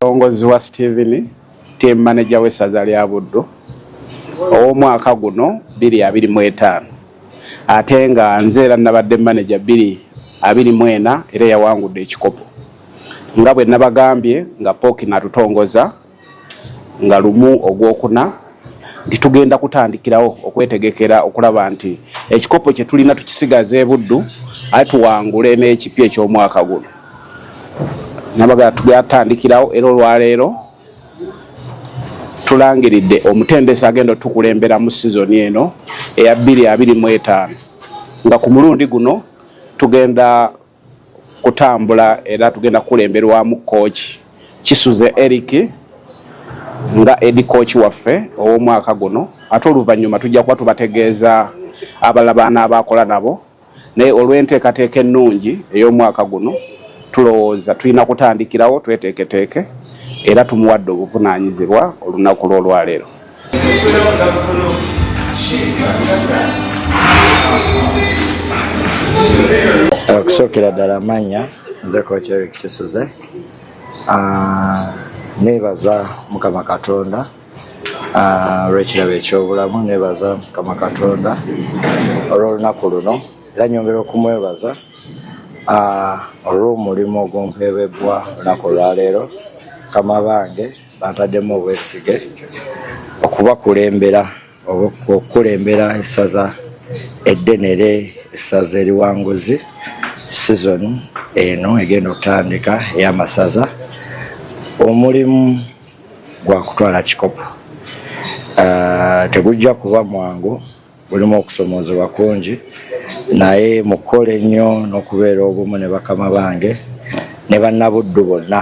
Omulongozi wa Steven team manager w'essaza lya Buddu ow'omwaka guno bbiri abiri mu etaano ate nga nze era nabadde maneja bbiri abiri mu ena era yawangudde ekikopo nga bwe nabagambye nga pooki natutongoza nga lumu ogwokuna nti tugenda kutandikirawo okwetegekera okulaba nti ekikopo kye tulina tukisigaza ebuddu aye tuwangule n'ekipya eky'omwaka guno nabaga tugatandikirawo era olwaleero tulangiridde omutendesi agenda otukulembera mu sizoni eno eya bbiri abiri mu etaano nga ku mulundi guno tugenda kutambula era tugenda kukulemberwamu kooki kisuze eric nga edi kooki waffe ow'omwaka guno ate oluvannyuma tujja kuba tubategeeza abala baana abaakola nabo naye olw'enteekateeka ennungi ey'omwaka guno tulowooza tulina kutandikirawo tweteeketeeke era tumuwadde obuvunaanyizibwa olunaku lw'olwaleero okusookera ddala manya nze kocerik kisuze ah, nebaza mukama katonda ah, olwekirabo ekyobulamu nebaza mukama katonda olwolunaku luno era nyongera okumwebaza ah, olwomulimu ogumpeebebwa olunaku olwaleero kama bange Bantademu obwesige okubakulembera okukulembera essaza eddenere essaza eriwanguzi season eno egenda okutandika eyamasaza omulimu gwakutwala kikopo ah, tegujja kuba mwangu mulimu okusomoozebwa kungi naye mukukola ennyo n'okubeera obumu ne bakama bange ne bannabuddu bonna